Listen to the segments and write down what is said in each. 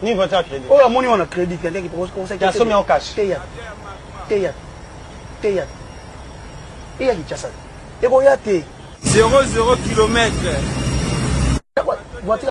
ni voiture ya crédit oyo amoni wana crédit te ndenge ya somi en cash teya teya teya eya kinshasa ekoya te 00 kilomètre voiture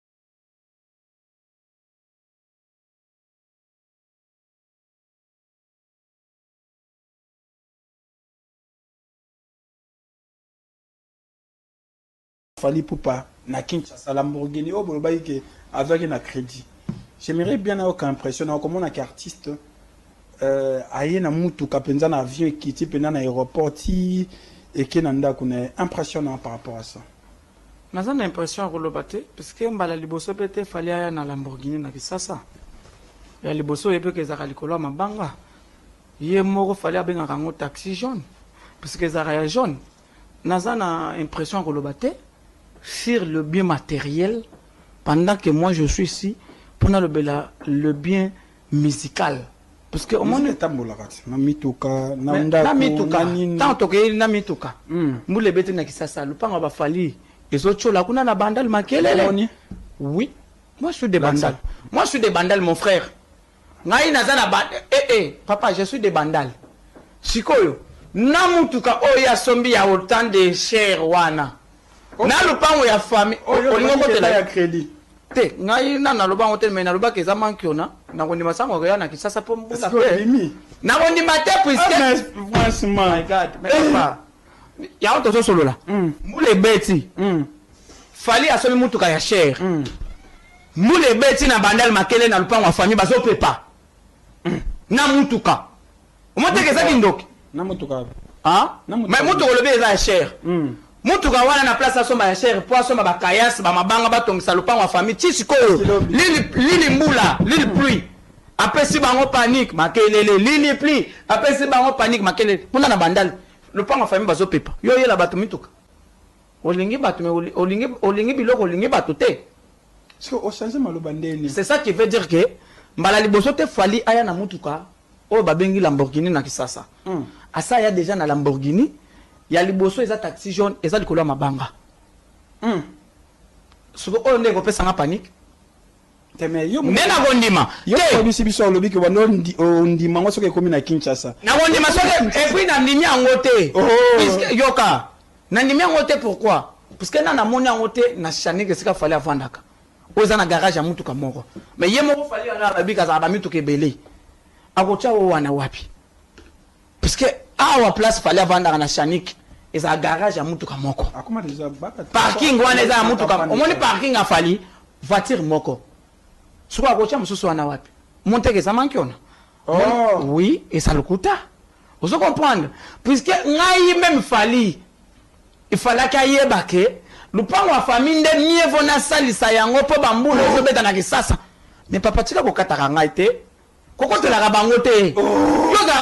Fally Ipupa na Kinshasa Lamborghini oyo bolobaki ke azwaki na credit j'aimerais bien nayoka impression na okomona ke artiste euh, aye na mutuka mpenza na avion ekiti mpenza na aéroport ti eke na ndako na ye impression na par rapport à ça Naza na impression ya koloba te puisque mbala liboso pe te Fally aya na Lamborghini na Kisasa. Ya liboso oye pe ke ezalaka likolo ya mabanga. Ye moko Fally abengaka yango taxi jaune puisque ezalaka ya jaune. Naza na impression ya koloba te. Sur le bien materiel pendant que moi je suis ici po nalobela le bien musical puisque Musique omoni etambolaka ti na mituka na Mais ndako na mituka na nini ntango tokei na mituka Mm. mbula ebeti na kisasa lopango ya bafali ezotyola kuna na bandal makelele Omoni? oui moi je suis de Lakisa. bandal moi je suis de bandal mon frère ngai naza na ba eh, eh, papa je suis de bandal sikoyo na motuka oyo ye asombi ya autant de cher wana na lopango ya famille olingi okotela ya credit te ngai na naloba yango te me nalobaka eza mankiona nakondima sango akoya na kisasa mpo mbula te nakondima te puiskeyango ah, tozosolola mm. mbula ebeti mm. fali asomi motuka ya chere mm. mbula ebeti na bandal makele na lopango ya famille bazopepa na motuka Omoteke eza kindoki. Na motuka wapi? Ah? Mais motuka olobi eza ya cher. Mm. Motuka wana na place asomba ya cher po asomba ba kayas, ba mabanga batongisa lopango ya famille. Ti sikoyo lili lili mbula, lili pluie. Apesi bango panique makelele lili pluie. Apesi bango panique makelele. Kuna na bandal. Lopango ya famille bazo pepa. Yo yela bato mituka. Olingi bato mais olingi olingi biloko olingi bato te. Soki o changer maloba nde nini? C'est ça qui veut dire que mbala liboso te Fally aya na mutuka oyo ba bengi Lamborghini na Kisasa. Asi aya dejà na Lamborghini ya liboso eza taxi jaune eza likolo ya mabanga. Sikoyo oyo nde eko pesa nga panique? Te mais yo mutu. Nde nako ndima te. Yo mutu oyebisi biso olobi que banda o ndima yango soki ekomi na Kinshasa. Nako ndima soki et puis na ndimi yango te. Puisque yoka. Nandimi yango te pourquoi? Parce que ngai namoni yango te na Shaneg esika Fally avandaka oyo eza na garage ya mutuka moko mais ye moko Fally wana alobi ke azalaka ba mituka ebele akotia oyo wana wapi? Parce que awa place Fally avandaka na Shaneg ezalaka garage ya mutuka moko parking wana eza ya mutuka omoni parking ya Fally voiture moko sikoyo akotia mosusu wana wapi? Omoni te ke eza manki ona? Ohh. Oui eza lokuta ozo comprendre puisque ngai meme Fally il fallaki ayeba que lupangu ya famille nde mieux vaut nasalisa yango po ba mbula ezo beta na kisasa mais papa tika kokataka ngai te kokotelaka bango te yo ozalaka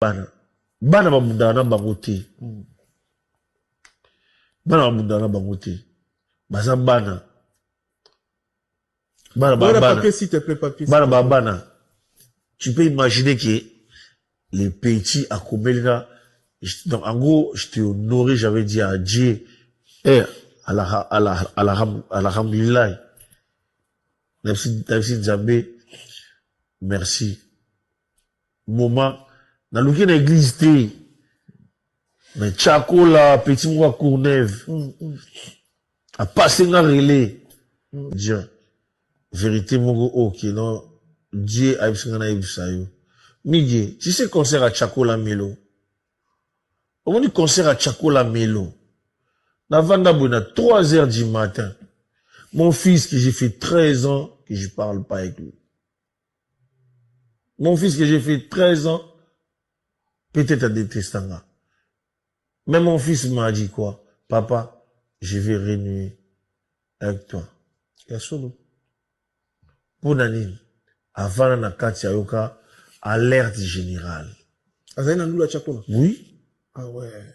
bana bana babundaka na bango te mm. bana babundaka na bango te baza bana bana ba bana tu peux imaginer que les petits akomeli na donc en gros je t'ai honoré j'avais dit à Dieu eh alhamdulilahi nabisi nzambe merci Moment naluki na eglise te mais Chakola petit moko ya Courneuve apase nga relais Dieu verite moko oyo oh, kino Dieu ayebisi nga nayebisa yo Migue tu sais concert ya Chakola Melo omoni concert ya Chakola Melo navanda boye na 3 heures du matin mon fils que j'ai fait 13 ans que je parle pas avec lui Mon fils que j'ai fait 13 ans, peut-être à détestanga. Mais mon fils m'a dit quoi Papa, je vais renouer avec toi. Ya solo. Mpo na nini avana na kati ayoka alerte générale. Azali na ndula tya kuna? Oui. Ah ouais.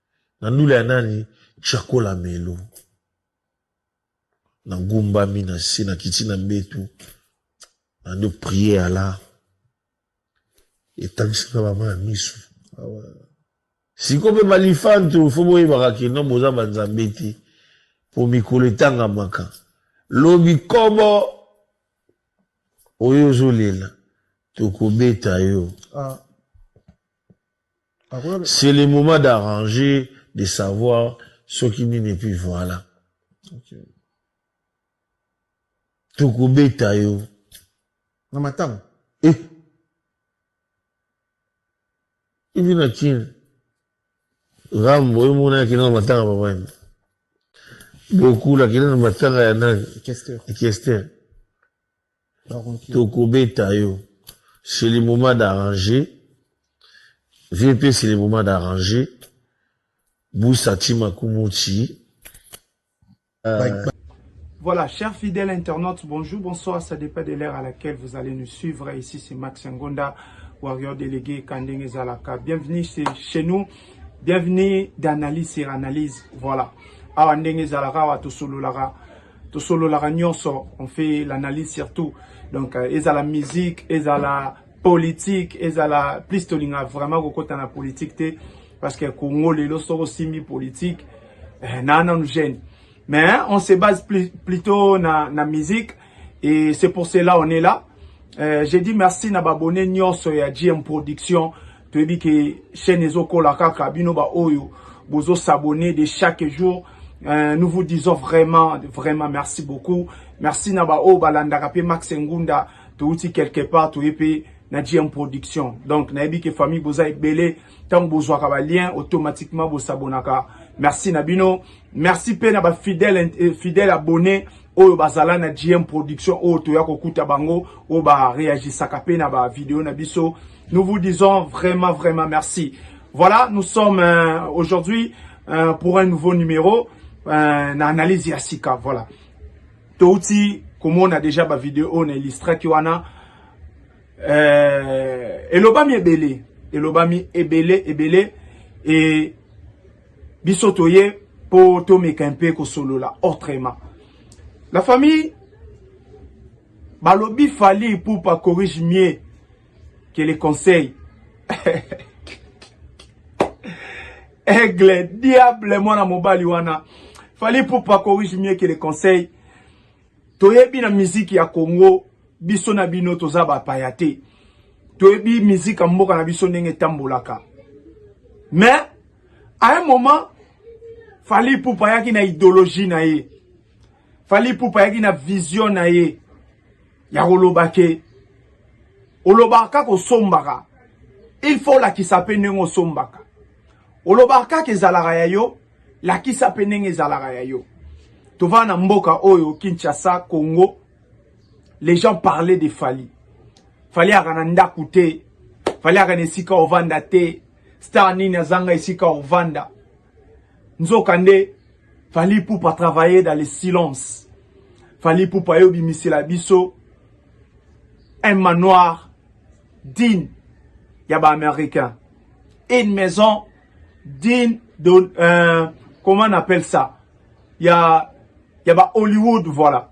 Na ndule ya nani tshiakola melo. Na gumbami na se na kiti na mbetu na ndo prier Allah etangisaka ba ma misu awa. Siko pe balifantu faut boyebaka ke non boza ba nzambe te po mikolo etangamaka lobi kobo oyo ozolela tokobeta yo ah. C'est le moment d'arranger, de savoir soki nini et puis voilà. Okay. Tokobeta yo. Na matanga. Eh. Ivi na kin. Rambo yo mona kina na matanga papa. Bokula kina na matanga ya nani? Kester. Kester. Toko beta yo c'est le moment d'arranger vie pe c'est le moment d'arranger busa ti makumu ti euh... Voilà, chers fidèles internautes, bonjour, bonsoir, ça dépend de l'heure à laquelle vous allez nous suivre. Ici, c'est Max Ngonda, warrior délégué Kandenge Zalaka. Bienvenue chez nous, bienvenue d'analyse sur analyse. Voilà. Awa Ndenge Zalaka, awa Tosololaka. tosololaka nyonso on fait l'analyse surtout donc euh, ezala musique ezala politique ezala plus tolinga vraiment kokota na politique te parce que congo lelo soki osimbi politique eh, na nanu gêne mais hein, on se base plus, plutôt na, na musique et c'est pour cela on est là euh, j'ai dit merci na babone nyonso ya gm production toyebi ke chaîne ezokola kaka bino baoyo bozo s'abonner de chaque jour euh, nous vous disons vraiment vraiment merci beaucoup merci na baoyo balandaka mpe max ngunda touti quelque part toye mpe na gm production donc nayebi ke famille boza ebele ntango bozwaka balien automatiquement bosabonaka merci na bino Merci pe na ba fidèle eh, fidèle abonné oyo bazala na GM production oyo toya kokuta bango oyo ba réagisaka pe na ba vidéo na biso. Nous vous disons vraiment vraiment merci. Voilà, nous sommes euh, aujourd'hui euh, pour un nouveau numéro euh, na analyse ya sika. Voilà. Touti komona déjà ba vidéo na illustraki wana euh, elobami ebele elobami ebele ebele et biso toye po tomeka mpe kosolola autrement la famille balobi fali ipupa corrige mieux que les conseils aigle diable mwana mobali wana fali ipupa corrige mieux que les conseils toyebi na miziki ya congo biso na bino toza bapaya te toyebi miziki ya mboka na biso ndenge etambolaka mais A un moment, Fally Ipupa ayaki na ideologie na ye. Fally Ipupa ayaki na vision na ye ya koloba ke olobaka kaka osombaka il faut olakisa mpe ndenge osombaka olobaka kaka ezalaka ya yo lakisa mpe ndenge ezalaka ya yo tovanda na mboka oyo kinshasa congo les gens parlaient de fali fali aka na ndako te fali aka na esika ovanda te Star nini azanga esika ovanda? Nzoka nde Fally Ipupa travailler dans le silence. Fally Ipupa yo bimisela biso un manoir digne ya ba américain. Une maison digne de euh, comment on appelle ça? Ya ya ba Hollywood voilà.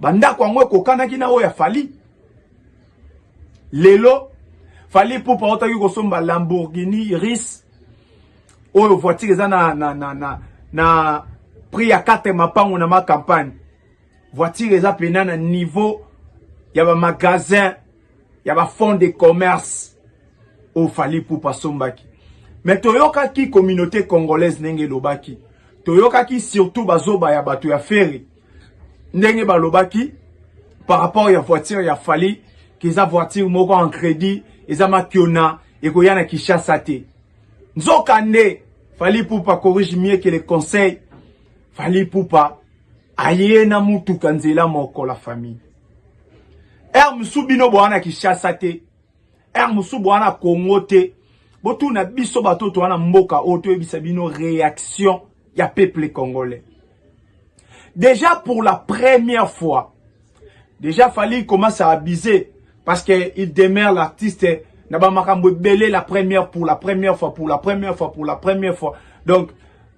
Bandako yango ekokanaki na oyo ya Fally. Lelo Fally Ipupa autaki kosomba Lamborghini Ris oyo voiture eza na, na, na, na, na prix ya 4 mapango na ma campagne. Voiture eza pena na niveau ya ba magasin ya ba fonds de commerce oyo Fally Ipupa asombaki. Me toyokaki communauté congolaise ndenge elobaki, toyokaki surtout bazoba ya bato ya fere ndenge balobaki par rapport ya voiture ya Fally keza voiture moko en credit eza makiona ekoya na Kinshasa te nzoka nde Fally Ipupa corrige mieux que le conseil Fally Ipupa aye na mutuka nzela moko la famille heure mosusu bino bowana Kinshasa te Ère mosusu boa na Congo te. Botuna biso bato to wana mboka oyo toyebisa bino réaction ya peuple congolais. Déjà pour la première fois, déjà Fally commence à abuser parce que il demeure l'artiste na ba makambo ebele la première pour la première fois pour la première fois pour la première fois. Donc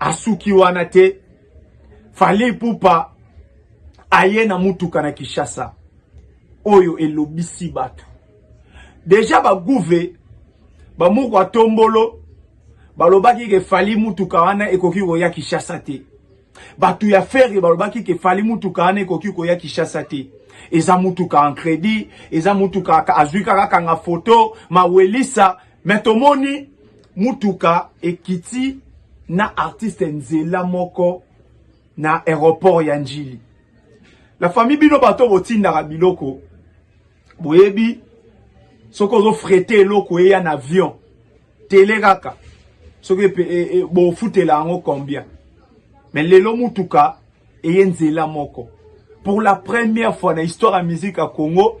asuki wana te. Fally Ipupa aye na mutuka na Kinshasa oyo elobisi bato deja baguve bamoko atombolo balobaki ke Fally mutuka wana ekoki koya Kinshasa te. Bato ya Ferre balobaki ke Fally mutuka wana ekoki koya Kinshasa te. Eza mutuka en credit, eza mutuka azwi kaka kanga foto mawelisa Mais tomoni mutuka ekiti na artiste nzela moko na aéroport ya Njili. La famille bino bato botindaka biloko boyebi soki ozo frete eloko eya na avion tele kaka soki e, e, bofutela yango combien me lelo mutuka eye nzela moko pour la première fois na histoire ya musique ya congo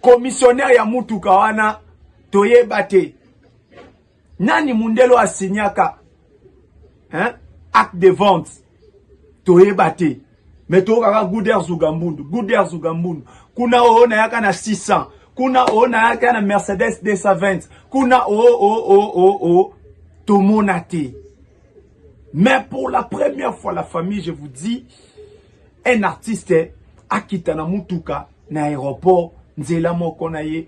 Commissionnaire ya mutuka wana toyeba te nani mundelo asignaka hein? acte de vente toyeba te me toyokaka guder zugambundu guder zugambundu kuna oyo nayaka na 600 kuna oyo nayaka na mercedes 220 kuna oo oh, oo oh, oo oh, oo tomona te Mais pour la première fois, la famille, je vous dis, un artiste akita na mutuka na aéroport nzela moko na ye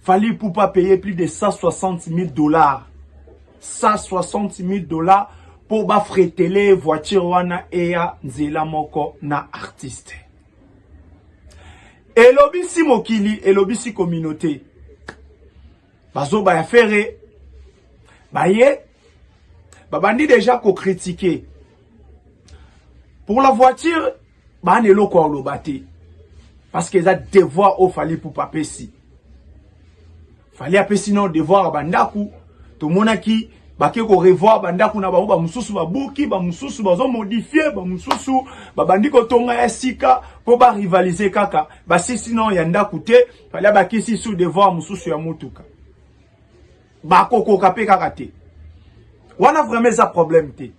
Fally Ipupa paye plus de 160 000 dollars 160 000 dollars mpo bafretele voiture wana eya nzela moko na artiste elobisi mokili elobisi communauté bazoba ya fere baye babandi deja ko critiquer pour la voiture bana eloko aloba te parce que eza devoir oyo fali pupa apesi fali apesi no devoir ya bandako tomonaki bake korevoir bandako na bango bamosusu babuki bamosusu bazomodifie bamosusu babandi kotonga ya sika mpo barivalize kaka basisi no ya ndako te fali abakisi su devoir mosusu ya motuka bakokoka mpe kaka te wana vraiment eza problème te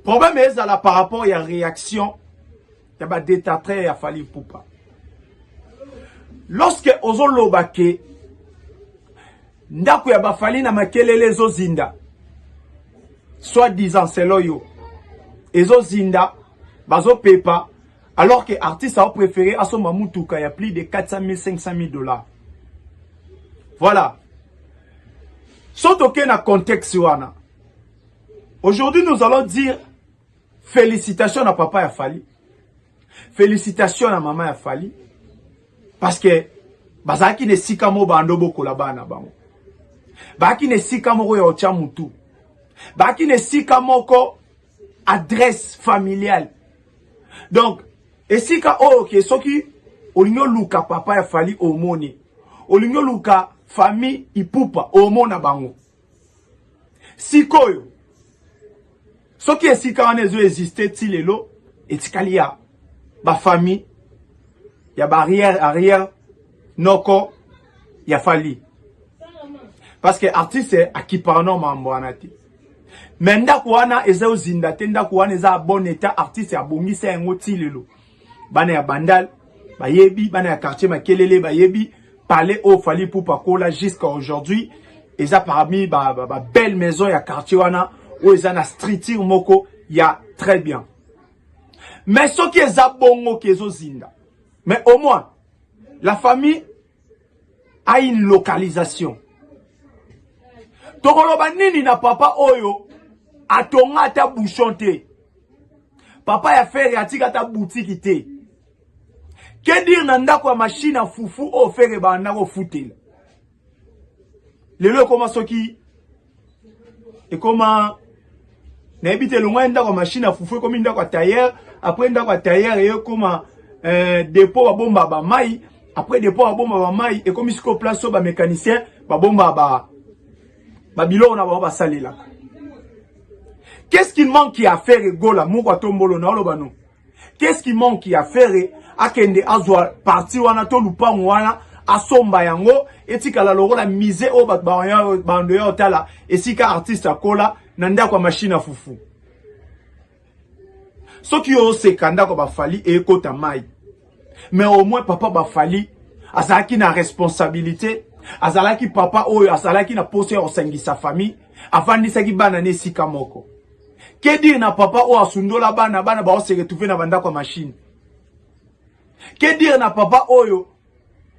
problème ezala par rapport ya réaction ya badétatraire ya fali pupa lorsque ozoloba ke ndako ya bafali na makelele ezozinda soit disant selo yo ezozinda bazopepa alors que artiste a préféré asomba mutuka ya plus de 400 000 500 000 dollars voilà so toke na contexte wana aujourd'hui nous allons dire félicitations na papa ya Fally félicitations na mama ya Fally parce que bazalaki na esika moko bando bokola bana bango baaki na esika moko ya otya mutu baaki na esika moko adresse familiale donc esika oyo ke soki olingi oluka papa ya fali omoni olingi oluka famille ipupa omona bango sikoyo soki esika wana ezo existe ti lelo etikali ya bafamille ya baarrière arrière noko ya fali parce que artiste akiparano mambo wana te mais ndako wana eza ozinda te ndako wana eza bon état artiste abongisa yango ti lelo bana ya bandal bayebi bana ya quartier makelele bayebi palais oyo fali pupa kola jusqu'à aujourd'hui eza parmi ba, ba, ba belle maison ya quartier wana oyo eza na structure moko ya très bien mais soki eza bongo ke ezozinda mais au moins la famille a une localisation tokoloba nini na papa oyo atonga ata bouchon te papa ya fere atika ata butiki te ke dire na ndako ya mashine ya fufu oyo fere ebanda kofutela lelo ekoma soki ekoma nayebi te elongwani ndako ya mashine ya fufu ekomi ndako ya tailleur apres ndako ya tailleur eye ekoma eh, depot babomba bamai apres depot babomba bamai ekomi sikoyo place oyo bamécanicien babomba ba babiloko na bango basalelaka qu'est ce qu'il manque ya affaire egola moko atombolo naoloba no Qu'est-ce qui manque ya Ferre akende azwa parti wana to lupango wana asomba yango etikala lokola musée oyo bato bando ya otala esika artiste akola na ndako ya mashine ya fufu soki yo oseka ndako bafali ekota mai mais au moins papa bafali azalaki na responsabilité azalaki papa oyo azalaki na posa ya kosangisa famille afandisaki bana na esika moko Ke dire na papa oyo asundola bana, bana bao se retrouver na bandako ya machine. Ke dire na papa oyo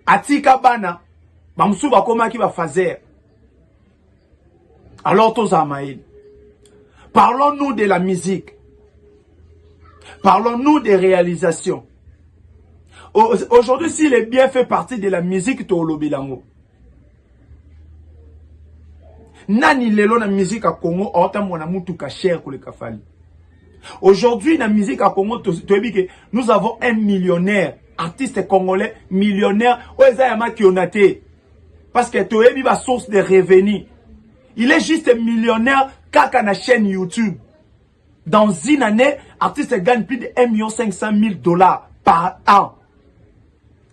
atika bana, bamosusu bakomaki ba fazer. Alors tozala mayele. Parlons-nous de la musique. Parlons-nous des réalisations. Aujourd'hui, si les biens fait partie de la musique, tu as Nani lelo na musique ya Congo aotambwa na mutuka cher koleka Fally? Aujourd'hui na musique ya Congo toyebi ke nous avons un millionnaire artiste congolais millionnaire oyo eza ya makiona te parce que toyebi ba source de revenus il est juste millionnaire kaka na chaîne YouTube dans une année artiste gagne plus de 1 million 500 000 dollars par an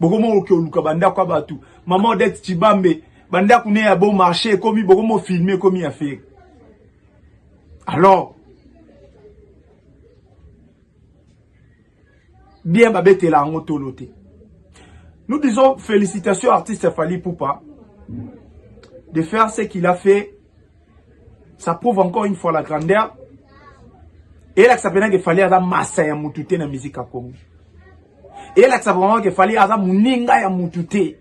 bokomo oke oluka bandako ya bato mama odete cibambe bandako ne ya bon marché ekomi bokomo filme ekomi ya fere alors bien babetela yango tolo te nous disons félicitations artiste fali poupa de faire ce qu'il a fait ça prouve encore une fois la grandeur elakisa mpenza ke fali aza masa ya mutu te na musique ya congo elakisa vraiment ke fali aza moninga ya mutu te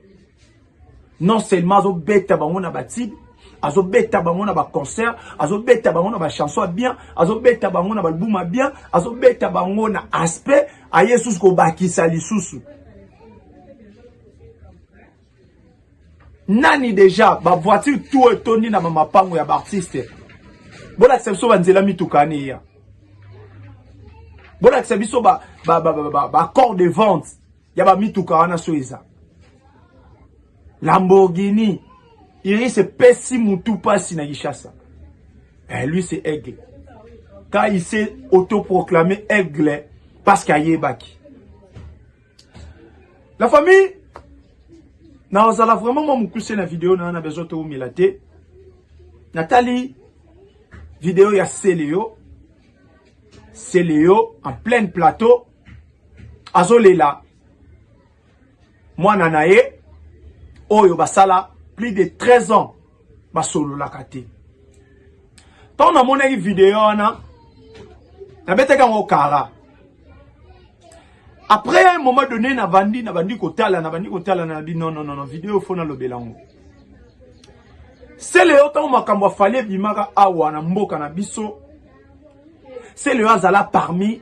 non seulement azobeta bango na batibe azobeta bango na baconcert azobeta bango na bachanson ya bien azobeta bango na balbum ya bien azobeta bango na aspect aye susu kobakisa lisusu nani deja ba voiture tout etondi na mamapango ya baartiste bolakisa biso banzela mituka ani eya bolakisa biso ba, ba, ba, ba, ba, ba corps de vente ya bamituka wana so eza lamborghini iris epesi mutu mpasi na kinshasa eh, lui c'est aigle quand il s'est autoproclamé aigle parce qu'ayebaki La famille, nazala vraiment mwa mokuse na video na na besoin toumela te. Natali video ya Celeo. Celeo en plein plateau. Azolela mwana na ye oyo basala plus de 13 ans basololaka te ntango namonaki video wana nabetaki yango kara après un moment donné nabandi nabandi kotala nabandi kotala nabi non non non video fo nalobela yango sele yo ntango makambo afali ebimaka awa na mboka na biso sele yo azala parmi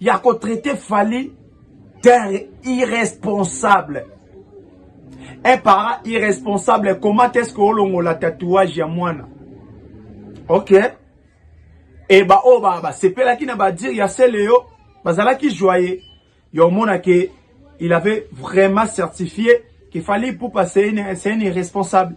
ya ko traiter Fally d'un irresponsable un parent irresponsable comment est-ce que olongola tatouage ya mwana ok e baoyo ba basepelaki na badire ya seleyo bazalaki joye ya omona ke il avait vraiment certifié qu'il fallait ipupa c'est un irresponsable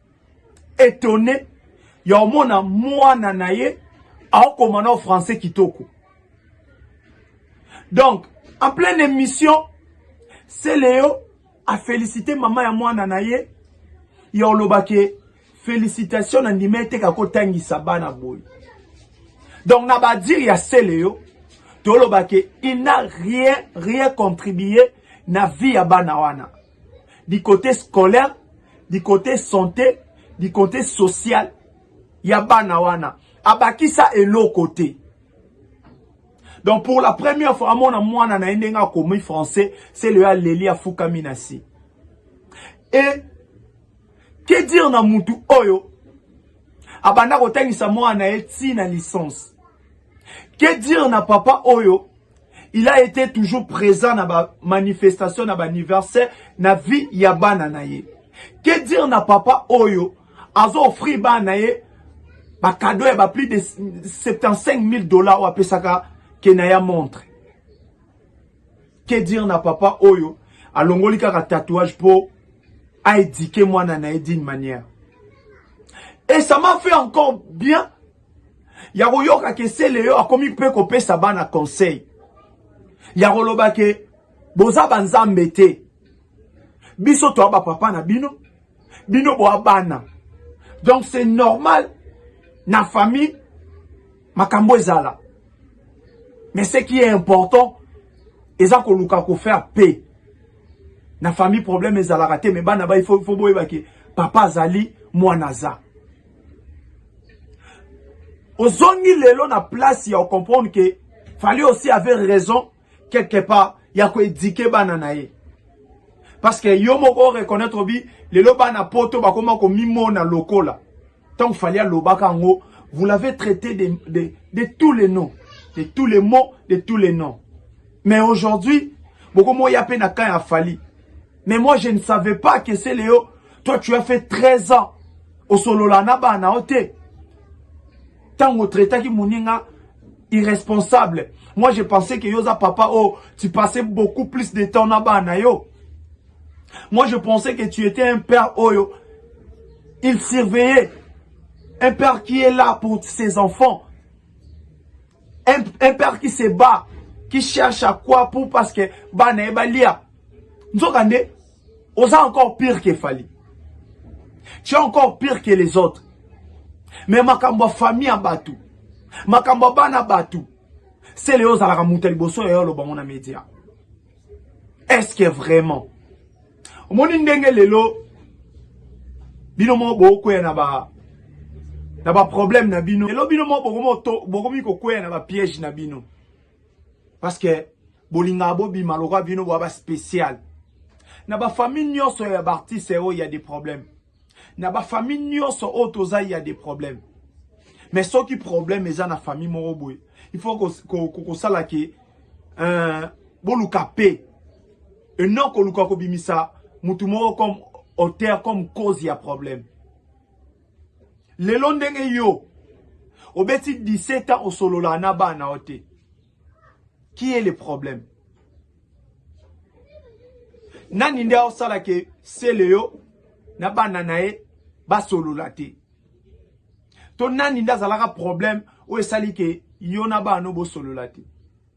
etonne ya omona mwana na ye aokoma na français kitoko donc en pleine émission seleo afélicite mama ya mwana na ye ya oloba ke félicitation na ndima ete kakotangisa bana boye donc na badire ya seleo toloba ke il n'a rien rien contribué na vie ya bana wana du cote scolaire du cote sante du cote social ya bana wana abakisa eloko te donc pour la première fois amona mwana na ye ndenge akomi français se leyo aleli afukami na se e ke dire na mutu oyo abanda kotangisa mwana na ye ntina licence Que dire na papa oyo il a été toujours présent na ba manifestation na ba anniversaire na vie ya bana na ye que dire na papa oyo azo offrir bana na ye ba cadeau ya ba plus de 75 000 dollars oyo apesaka kena ya montre que dire na papa oyo alongoli kaka tatouage mpo aedike mwana na ye d'une manière et ça m'a fait encore bien ya koyoka ke seleyo akomi mpe kopesa bana conseil ya koloba ke boza banzambe te biso toa bapapa na bino bino boa bana donc c'est normal na famille makambo ezala mais ce qui est important eza koluka kofaire paix na famille problème ezalaka te mais bana ba il faut boyeba ke papa azali mwana aza ozongi lelo na place ya comprendre que fallait aussi avait raison quelque part ya ko éduquer bana na ye parce que yo moko reconnaître bi lelo bana poto bakoma ko mimona lokola tant fallait alobaka ngo vous l'avez traité de, de, de tous les noms de tous les mots de tous les noms mais aujourd'hui bokomoya pe na camp ya Fally mais moi je ne savais pas que c'est Léo Toi tu as fait 13 ans osolola na bana yo te. Tango otraitaki moninga irresponsable. Moi je pensais que yoza papa oh tu passais beaucoup plus de temps na bana yo. Moi je pensais que tu étais un père oyo oh, il surveillait un père qui est là pour ses enfants. Un, un père qui se bat, qui cherche à quoi pour parce que bana ebalia. Nzokande Oza encore pire que Fally. Tu es encore pire que les autres. Mais makambo ya famille ya bato, makambo ya bana bato, sele yo ozalaka moto ya liboso ya yo aloba ngo na media. Est-ce que vraiment omoni ndenge lelo bino moko bokweya na ba na ba problème na bino lelo bino moko bokomi kokwea na ba piège na bino parce que bolingaka bobima lokola bino boya ba spécial na bafamille nyonso ya baartiste oyo ya des problèmes na bafamille nyonso oyo toza ya des problèmes mais soki problème eza na famille moko boye il faut kosala ke euh, boluka pe et non koluka kobimisa mutu moko comme auteur comme cause ya problème lelo ndenge yo obeti 17 ans osolola na bana o te qui est le problème nani nde aosala ke sele yo na bana na ye basolola te to nani nde azalaka problème oyo esali ke yo na bana bosolola te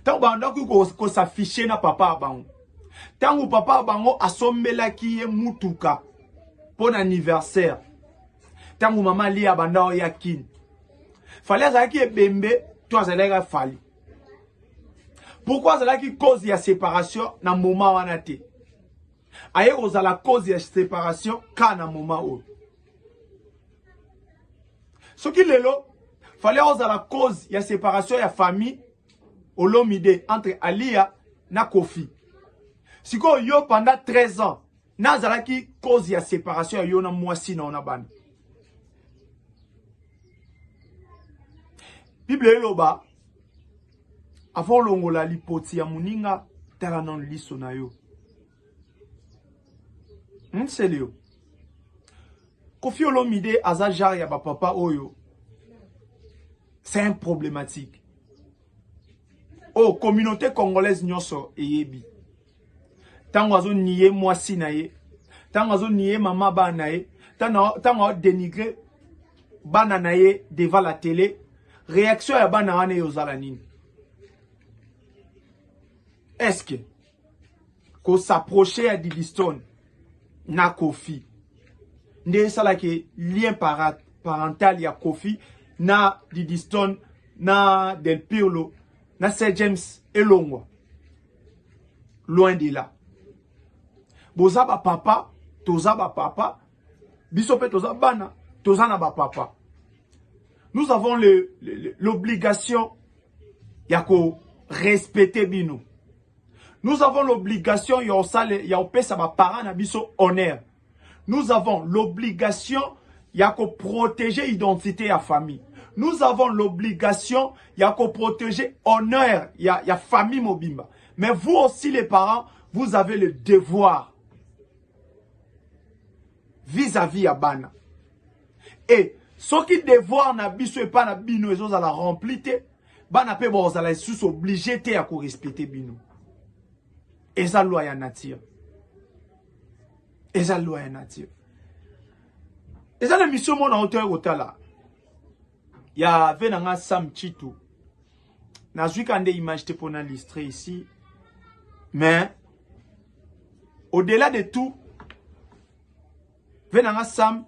ntango bandaki kosafishe na papa ya bango ntango papa ya bango asombelaki ye mutuka mpo na anniversaire ntango mama lia abanda oya kini fali azalaki ebembe to azalaki fali pourkui azalaki cause ya séparation na moma wana te aye kozala cause ya séparation ka na moma oyo soki lelo fallait ozala cause ya séparation ya famille olomide entre aliya na kofi sikoyo yo pendant 13 ans nazalaki cause ya séparation ya yo na mwasi na yo na bana bible eloba avant olongola lipoti ya moninga tala nano liso na yo Hmm, Celio. Kofi Olomide aza genre ya ba papa oyo. C'est un problématique. Oh, communauté congolaise nyonso eyebi. Tango azo nier mwasi na ye. Tango azo nier mama ba na ye. Tango dénigrer bana na ye devant la télé. Réaction ya bana wana yozala nini? Est-ce que ko s'approcher ya Didistone na Kofi nde esalaki lien para, parental ya Kofi na Didistone na Del Pirlo na Sir James elongwa loin de là boza ba papa toza ba papa biso pe toza bana toza na ba papa nous avons l'obligation ya ko respecter bino nous avons l'obligation ya osale ya opesa ba parents na biso honneur nous avons l'obligation ya ko protéger identité ya famille nous avons l'obligation ya ko protéger honneur ya, ya famille mobimba mais vous aussi les parents vous avez le devoir vis-à-vis ya bana e soki devoir na biso epai na bino ezozala rempli te bana mpe bakozala lisusu oblige te ya korespecte bino eza loi ya nature eza loi ya nature eza na emission mona otoya kotala ya ve na nga sam chitu nazwi ka nde image te pona listre ici mais au delà de tout ve nanga sam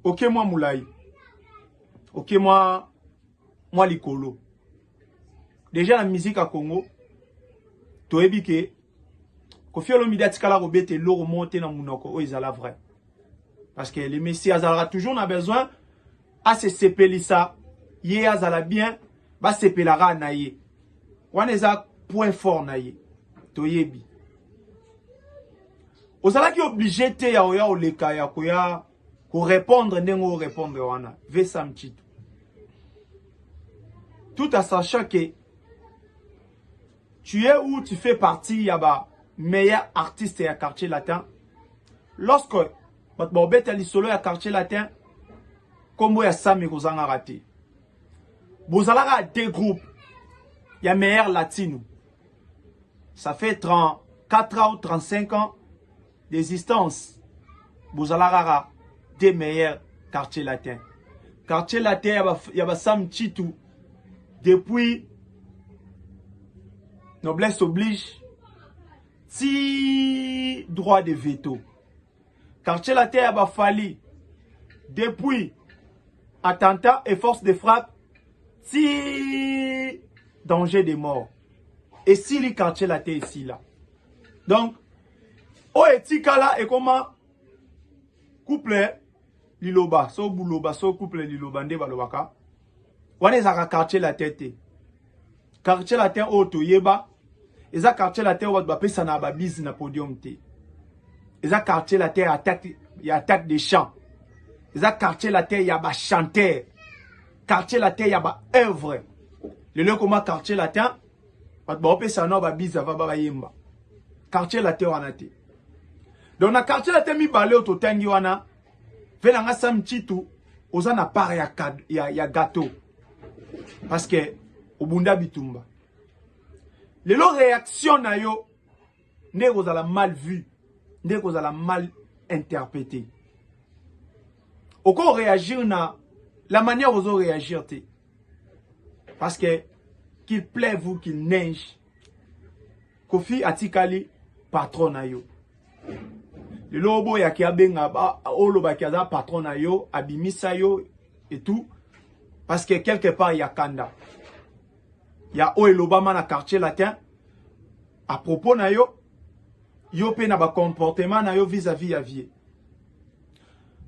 oke okay, mwa molai oke okay, mwa mwa likolo deja na miziki ya congo toyebi ke kofi olomide atikala kobeta eloko moko te na monoko oyo ezala vrai parce que le messi azalaka toujours na besoin ase sepelisa ye azala bien ba sepela kaka na ye wana eza point fort na ye toyebi ozalaki oblige te ya oya oleka ya koya korepondre ndenge orepondre wana vesa mchitu tout à sachant que tu es où tu fais partie ya ba meilleur artiste ya quartier latin lorsque bato baobeta lisolo ya quartier latin nkombo ya sami kozangaka te bozalaka de groupe ya meilleur latino ça fait 34 ans ou 35 ans d'existence bozalaka de meilleur quartier latin quartier latin ya basam chitu depuis noblesse oblige ti droit de veto quartier latin ya ba Fally depuis attentat et force de frappe ti danger de mort esili quartier latin esila donc oyo etikala ekoma couple liloba so buloba so couple liloba nde balobaka wana ezalaka quartier latin te quartier latin oyo toyeba eza quartier latin oyo bato bapesanaka babise na podium te eza quartier latin ya attaque, ya attaque de champ eza quartier latin ya bachanteur quartier latin ya baœuvre lelo ekoma quartier latin bato baopesana nao babise ava bayemba quartier latin wana te donc na quartier latin mibale oyo totangi wana Pe na nga Sam Chitu oza na part ya, ya, ya gâteau parce que obunda bitumba lelo réaction na yo nde ekozala mal vu nde ekozala mal interprété oko réagir na la manière ozo réagir te parce que qu'il pleuve ou qu'il neige Kofi atikali patron na yo. Lelo oboyaki abenga olobaki aza patron na yo, abimisa yo et tout parce que quelque part ya kanda. Ya oyo elobama na quartier latin à propos na yo yo pe na ba comportement na yo vis-à-vis ya vie.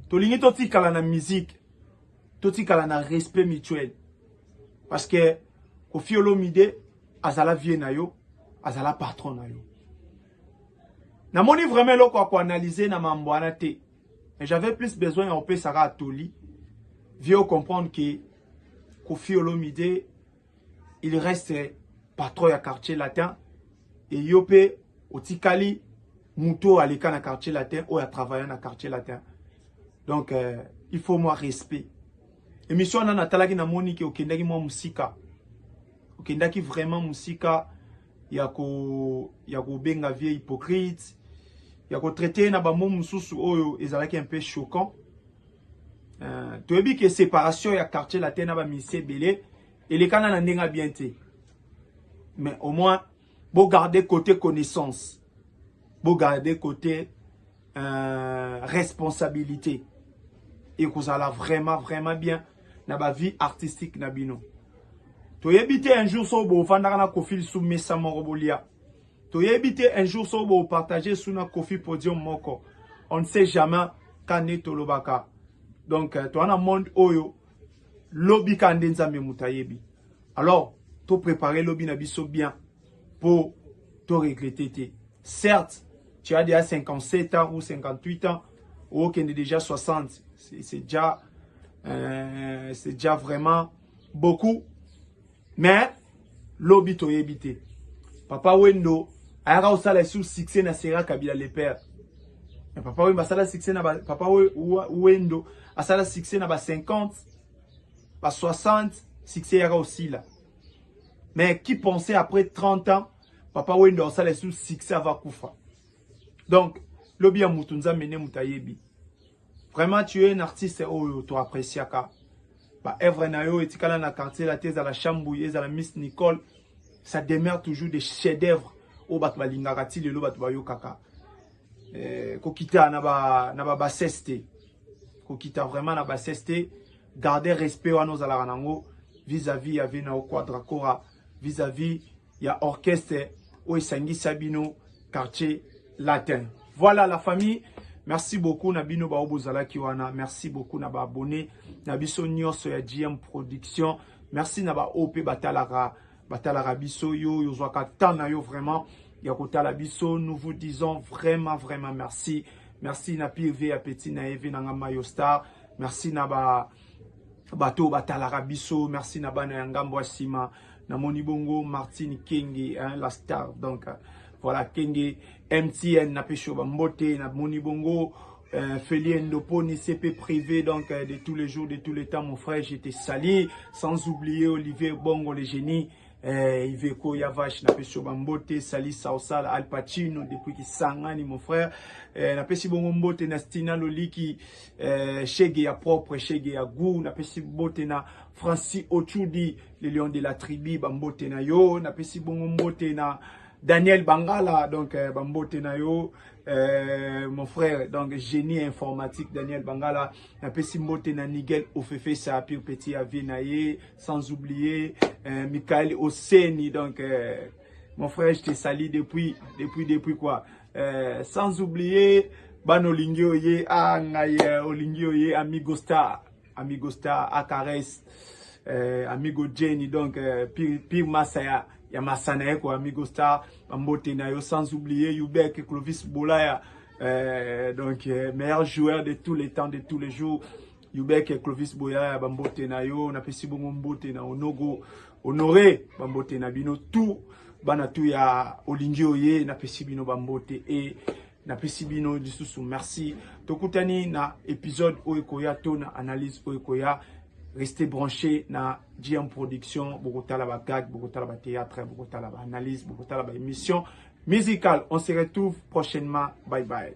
Tolingi totikala na musique totikala na respect mutuel parce que Koffi Olomide azala vieux na yo azala patron na yo namoni vraiment eloko ya koanalyse na mambo wana te mais j'avais plus besoin ya kopesaka atoli vieux ocomprendre ke Koffi Olomide il reste patron ya quartier latin et yo pe otikali moto oyo aleka na quartier latin oyo atravaille na quartier latin donc euh, il faut moi respect émission wana natalaki namoni ke okendaki mwa mosika okendaki vraiment mosika ya ko ya kobenga vie hypocrite ya kotraite na bamo mosusu oyo ezalaki un peu choquant Uh, toyebi ke séparation ya quartier latin na ba ministère ebele elekana na ndenge bien te mais au moins bo garder côté connaissance bo garder côté euh, responsabilité ekozala vraiment vraiment bien na ba vie artistique na bino toyebi te un jour so bofandaka na kofili sou mesa moko bolia toyebi te un jour soki bopartage su na kofi podium moko on ne sait jamais ka nde tolobaka donc euh, toza na monde oyo lobi ka nde nzambe moto ayebi alors toprépare lobi na biso bien mpo toregrete te certes tu as déjà 57 ans ou 58 ans okende déjà 60 c'est déjà euh, c'est déjà vraiment beaucoup mais lobi toyebi te papa wendo ayaka kosala esu succès na sera kabila le père mais papa wendo asala succès na ba, papa wendo asala succès na ba 50 ba 60 succès yaka osila mais qui pensait après 30 ans papa wendo asala esu succès ava kufa donc lobi ya mutu nzambe nde mutu ayebi Vraiment tu es un artiste oyo to appréciaka. Ba œuvre na yo etikala na quartier la teza la Chambouille, ezala Miss Nicole, ça demeure toujours des chefs-d'œuvre oyo bato balingaka ti lelo bato bayokaka. Eh, kokita na ba na ba bassesse te. Kokita vraiment na bassesse te. Garder respect wana ozalaka nango vis-à-vis ya Vena Okwa Dracora, vis-à-vis ya orchestre oyo esangisa bino quartier latin voilà la famille merci beaucoup na bino baoyo bozalaki wana merci beaucoup na baabonne na biso nyonso ya gm production merci na baoyo mpe batalaka batalaka biso yo oyo ozwaka temps na yo vraiment ya kotala biso nous vous disons vraiment vraiment merci merci na pire vie ya petit na ye vie na nga mayo star merci na ba bato batalaka biso merci na bana ya ngambo ya nsima namoni bongo martine kenge hein, la star donc euh, voilà kenge mtn napesi yo bambote namoni bongo Euh, Félix Ndoponi, CP privé, donc euh, de tous les jours, de tous les temps, mon frère, j'étais sali. Sans oublier Olivier Bongo, le génie. Eh, Iveco Yavash, napesi yo bambote, Sali Sausal, Al Pacino, depuis Kisangani, mon frère. Eh, napesi bongo mbote na Stina Loliki, eh, Shege ya propre, Shege ya goût, napesi mbote na Francis Ochudi, le lion de la tribu, bambote na yo, napesi bongo mbote na Daniel Bangala, donc eh, bambote na yo, eh, mon frère, donc génie informatique, Daniel Bangala, napesi mbote na Nigel Ofefesa, pire petit avis na ye, sans oublier euh, Michael Oseni donc euh, mon frère je te salue depuis depuis depuis quoi euh, sans oublier bana olingi oye ah ngai euh, olingi oye amigo star amigo star acaresse euh, amigo Jenny donc euh, pire, pire masaya ya masana ye ko amigo star bambote na yo sans oublier Yubek Clovis Bolaya euh, donc euh, meilleur joueur de tous les temps de tous les jours Yubeke Clovis Boyaya bambote na yo napesi bongo mbote na Onogo Honore bambote na bino tout bana tout ya olingi oye napesi bino bambote e napesi bino lisusu merci tokutani na episode oyo ekoya to na analyse oyo ekoya restez branché na GM Production bokotala ba gag bokotala ba théâtre bokotala ba analyse bokotala ba émission musicale on se retrouve prochainement bye bye